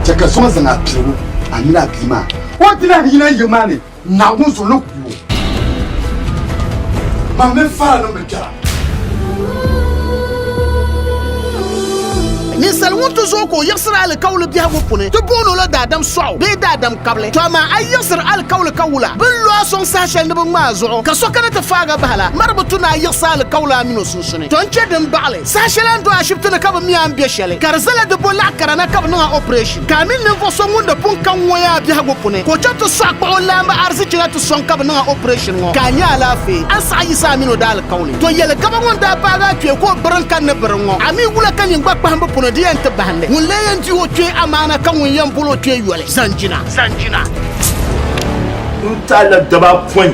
Chɛ ka zuɣu zaŋ apiligu a mini a bia maa. O dila ni yina yiŋ maa ni Naawuni zuɣu ni ku o. Mam mini Fara niŋ bi kpɛra. Ninsal ŋun ti zooi ka o yiɣisiri alikauli biɛhigu puuni, ti booni o la daadam sɔɣu bee daadam kabili. To amaa a yiɣisiri alikauli ka wula, bɛ ni lo a sɔŋ saha shɛli ni bɛ ŋma a zuɣu, ka so kana ti faag a bahi la, mari bi tu ni a yiɣisi alikauli a mini o suhudoo. sunsuuni. Ton kpe din baɣili saha shɛli a ni do ashibiti ni ka bɛ mi a ni be shɛli ka di zala di bo laɣ kara na ka bɛ niŋ a operation ka a mini ninvuɣ so ŋun di pun ka ŋun a biɛhigu puni ka o chaŋ ti sɔɣi kpuɣi o laamba arizichi na ti sɔŋ ka bɛ niŋ a operation ŋɔ ka a nya alaafee a ni saɣi yiɣisi a mini o daalikauli. To yɛli gaba ŋɔ n-daa paagi a kpee ka o biri n-kani ni biri ŋɔ a mi wula ka nyin gba kpahimbu puni di yɛn ti bahindi ŋun lee yɛn di o kpee amaana ka ŋun yɛn bol o kpee yoli zaŋ jina. N-taali la gaba apɔin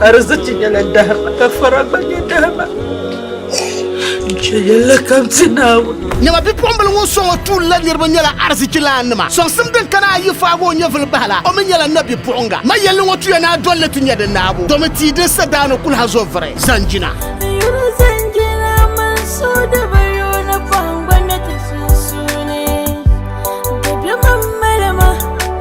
Arziki nyɛla dahima ka fara gba nyɛ dahima. Nche yɛla kam ti Naawuni. Nyɛma bipuɣimbila ŋun sɔŋ o tuuli la niriba nyɛla arzichilaannima. Sɔŋsim din kana ayi faagi o nyɛvili bahi la, o mi nyɛla nabipuɣiŋga. Ma yɛlli ŋɔ tuya ni a dolli ti nya di naabu, domi tia din sa daa ni kul ha zo vuri, zanjina.